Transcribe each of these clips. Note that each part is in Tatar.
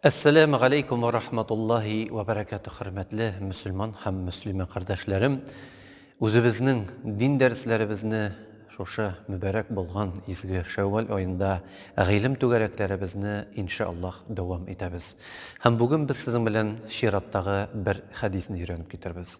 Әссәләмү галәйкүм ва рахматуллаһи ва бәрәкәтү хөрмәтле мөселман һәм мөслимә кардәшләрем. Үзебезнең дин дәресләребезне шушы мөбәрәк булган изге Шәүвәл аенда гыйлем түгәрәкләребезне иншааллаһ дәвам итәбез. Һәм бүген без сезнең белән чираттагы бер хәдисне өйрәнеп китербез.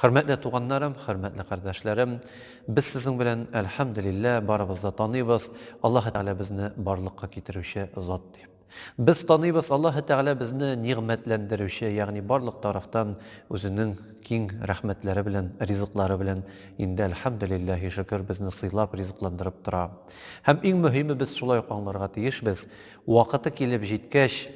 Хөрмәтле туганнарым, хөрмәтле кардәшләрем, без сезнең белән, әлхәмдүлиллә, барыбыз да таныйбыз, Аллаһы Тәгалә безне барлыкка китерүче зат дип. Без таныйбыз, Аллаһы Тәгалә безне нигъмәтләндерүче, ягъни барлык тарафтан үзенең киң рәхмәтләре белән, ризыклары белән инде, әлхәмдүлилләһи шөкер, безне сыйлап, ризыкландырып тора. Һәм иң мөһиме, без шулай ук аңларга тиешбез, вакыты килеп җиткәч,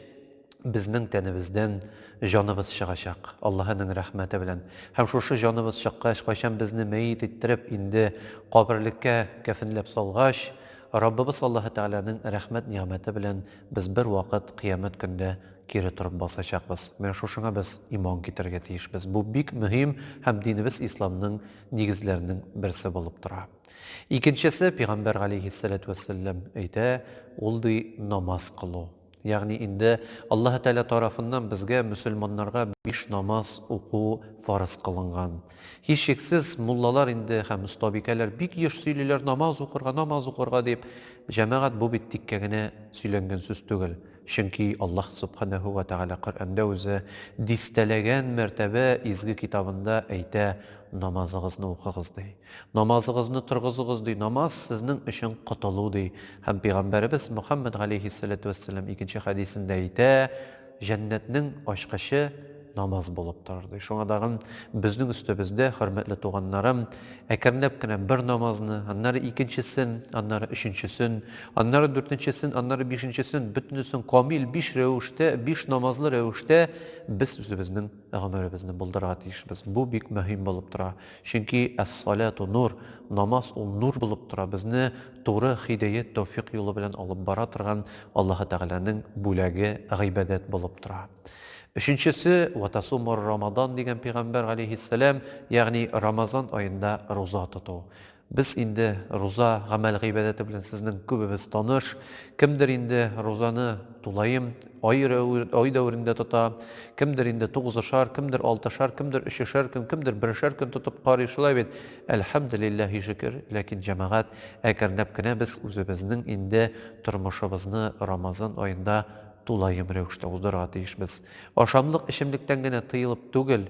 безнең тәнебездән җаныбыз чыгачак, Аллаһының рәхмәте белән. Һәм шушы җаныбыз чыккач, кайчан безне мәет иттереп, инде каберлеккә кәфенләп салгач, Раббыбыз Аллаһы Тәгаләнең рәхмәт-нигъмәте белән без бервакыт Кыямәт көндә кире торып басачакбыз. Менә шушыңа без иман китерергә тиешбез. Бу бик мөһим һәм динебез Исламның нигезләренең берсе булып тора. Икенчесе, пигамбәр галәйһиссәләтү вәссәлләм әйтә, ул ди, намаз кылу. Ягъни инде Аллаһы Тәгалә тарафыннан безгә, мөселманнарга, биш намаз уку фарыз кылынган. Һичшиксез, муллалар инде һәм остабикәләр бик еш сөйлиләр, намаз укырга, намаз укырга дип. Җәмәгать, бу бит тиккә генә сөйләнгән сүз түгел. Чөнки Аллаһ Сөбханәһү вә Тәгалә Коръәндә үзе дистәләгән мәртәбә изге китабында әйтә, Намазыгызны укыгыз, ди. Намазыгызны торгызыгыз, ди, намаз, сезнең өчен котылу, ди. Һәм Пәйгамбәребез Мөхәммәд галәйһиссәләтү вәссәлам икенче хәдисендә әйтә, Җәннәтнең ачкычы намаз булып торыр, ди. Шуңа тагын безнең өстебездә, хөрмәтле туганнарым, әкренләп кенә бер намазны, аннары икенчесен, аннары өченчесен, аннары дүртенчесен, аннары бишенчесен, бөтенесен камил биш рәвештә, биш намазлы рәвештә без үзебезнең гомеребезне булдырырга тиешбез. Бу бик мөһим булып тора. Чөнки әс-саләту нур, намаз ул нур булып тора, безне туры һидәят, тәүфикъ юлы белән алып бара торган Аллаһы Тәгаләнең бүләге, гыйбадәт булып тора. Өченчесе, Вә тасумур рамадан дигән пигамбәр галәйһиссәлам, ягъни Рамазан аенда руза тоту. Без инде руза гамәл гыйбадәте белән сезнең күбебез таныш. Кемдер инде рузаны тулаем, Ай рәве, ай дәверендә тота. Кемдер инде тугызышар, кемдер алтышар, кемдер өчешәр көн, кемдер берешәр көн тотып карый, шулай бит? Әлхәмделилләһи шөкер, ләкин, җәмәгать, әкренләп кенә без үзебезнең инде тормышыбызны Рамазан аенда тулаем рәвештә уздырырга тиешбез. Ашамлык, эчемлектән генә тыелып түгел,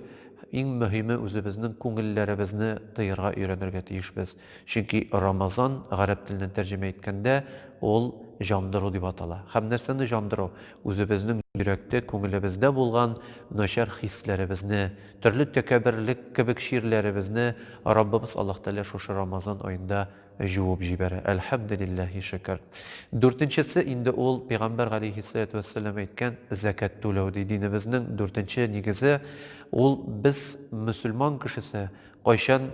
иң мөһиме үзебезнең күңелләребезне тыярга өйрәнергә тиешбез. Чөнки Рамазан, гарәп теленнән тәрҗемә иткәндә, ул җандыру дип атала. Һәм нәрсәне җандыру? Үзебезнең йөрәктә, күңелебездә булган начар хисләребезне, төрле тәкәбберлек кебек чирләребезне Раббыбыз Аллаһ Тәгалә шушы Рамазан аенда җуып җибәрә. Әлхәмделилләһи шөкер. Дүртенчесе инде ул, Пәйгамбәр галәйһиссәлатү вәссәлам әйткән, зәкят түләү, ди. Динебезнең дүртенче нигезе, ул, без, мөселман кешесе, кайчан,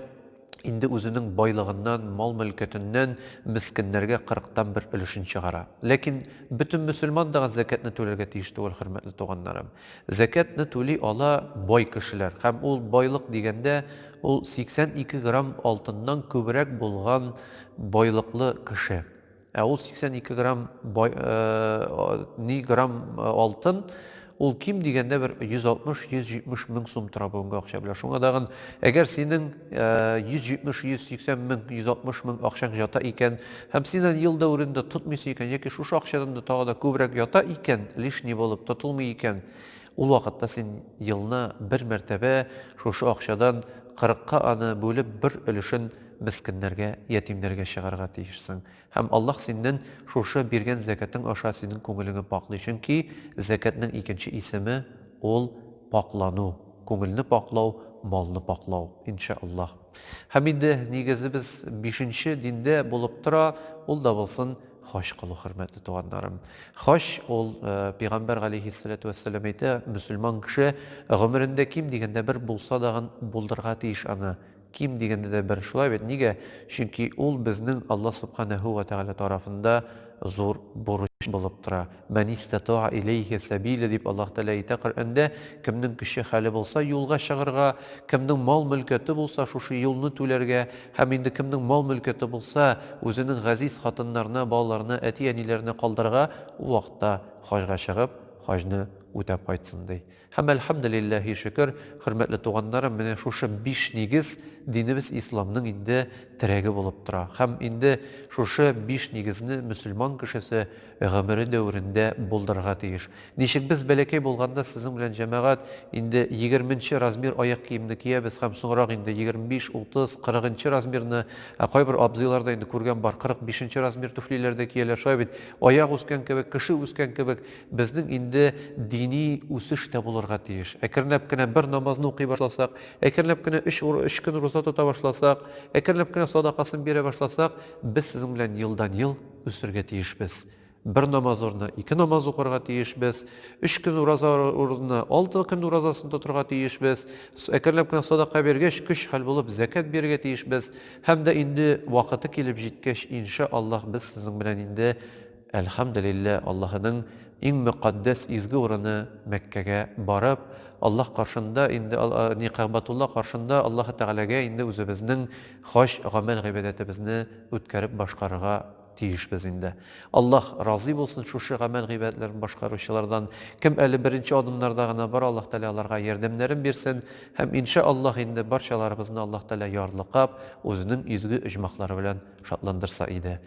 инде үзенең байлыгыннан, мал-мөлкәтеннән мескеннәргә кырыктан бер өлешен чыгара. Ләкин бөтен мөселман да зәкятне түләргә тиеш түгел, хөрмәтле туганнарым. Зәкятне түли ала бай кешеләр. Һәм ул байлык дигәндә, ул 82 грамм алтыннан күбрәк булган байлыклы кеше. Ә ул 82 грамм бай, э, ни грамм э, алтын, ул ким дигәндә бер 160-170 мең сум тора бүгенге акча белән. Шуңа дагын, әгәр синең 170-180 э, мең, 160 мең акчаң ята икән, һәм син аны ел дәверендә тотмыйсы икән, яки шушы акчадан да тагы да күбрәк ята икән, лишний булып тотылмый икән, ул вакытта син елна бер мәртәбә шушы акчадан 40-ка аны бүлеп бер өлешен мескеннәргә, ятимнәргә чыгарга тиешсең. Һәм Аллаһ синнән шушы биргән зәкатең аша синең күңелеңе пакълый, чөнки зәкатнең икенче исеме, ул, пакълану, күңелне пакълау, малны пакълау. Ин шәә Аллаһ. Һәм инде нигезебез бишенче диндә булып тора, ул да булсын хаҗ кылу, хөрмәтле туганнарым. Хаҗ ул, пигамбәр галәйһиссәләтү вәссәлам әйтә, мөселман кеше гомерендә ким дигәндә бер булса дагын булдырга тиеш аны, Ким дигәндә дә бер. Шулай бит, нигә? Чөнки ул безнең Алла Субханәһү вә Тәгалә тарафында зур бурыч булып тора. Мән истатаә иләйһи сәбиля дип Аллаһ Тәгалә әйтә Коръәндә, кемнең көче-хәле булса, юлга чыгарга, кемнең мал-мөлкәте булса, шушы юлны түләргә, һәм инде кемнең мал-мөлкәте булса, үзенең газиз хатыннарына, балаларына, әти-әниләренә калдырырга, ул вакытта хаҗга чыгып, хаҗны үтәп кайтсын, ди. Һәм әлхәмделилләһи шөкер, хөрмәтле туганнарым, менә шушы биш нигез динебез исламның инде терәге булып тора. Һәм инде шушы биш нигезне мөселман кешесе гомере дәверендә булдырырга тиеш. Ничек без бәләкәй булганда сезнең белән җәмәгать инде егерменче размер аяк киемне киябез һәм соңрак инде егерме биш, утыз, кырыгынчы размерны, ә кайбер абзыйлар да инде күргән бар кырык бишенче размер түфлиләр дә кияләр, шулай бит, аяк үскән кебек, кеше үскән кебек, Безнең инде дини үсеш тә булырга тиеш. Әкренләп кенә бер намазны укый башласак, әкренләп кенә өч өч көн руза тота башласак, әкренләп кенә садакасын бирә башласак, без сезнең белән елдан-ел үсергә тиешбез. Бер намаз урынына ике намаз укырга тиешбез, өч көн ураза урынына алты көн уразасын тотырга тиешбез, әкренләп кенә садака биргәч, көч-хәл булып зәкят бирергә тиешбез һәм дә инде вакыты килеп җиткәч, иншаАллаһ, без сезнең белән инде Әлхәмделилләһ, Аллаһының иң мөкатдәс изге урыны Мәккәгә барып, Аллаһ каршында инде, ни Кәгъбатулла каршында Аллаһы Тәгаләгә инде үзебезнең хаҗ гамәл-гыйбадәтебезне үткәреп башкарырга тиешбез инде. Аллаһ разый булсын шушы гамәл-гыйбадәтләрен башкаручылардан. Кем әле беренче адымнарда гына бар, Аллаһ Тәгалә аларга ярдәмнәрен бирсен һәм ин шәә Аллаһ инде барчаларыбызны Аллаһ Тәгалә ярлыкап, үзенең изге оҗмахлары белән шатландырса иде.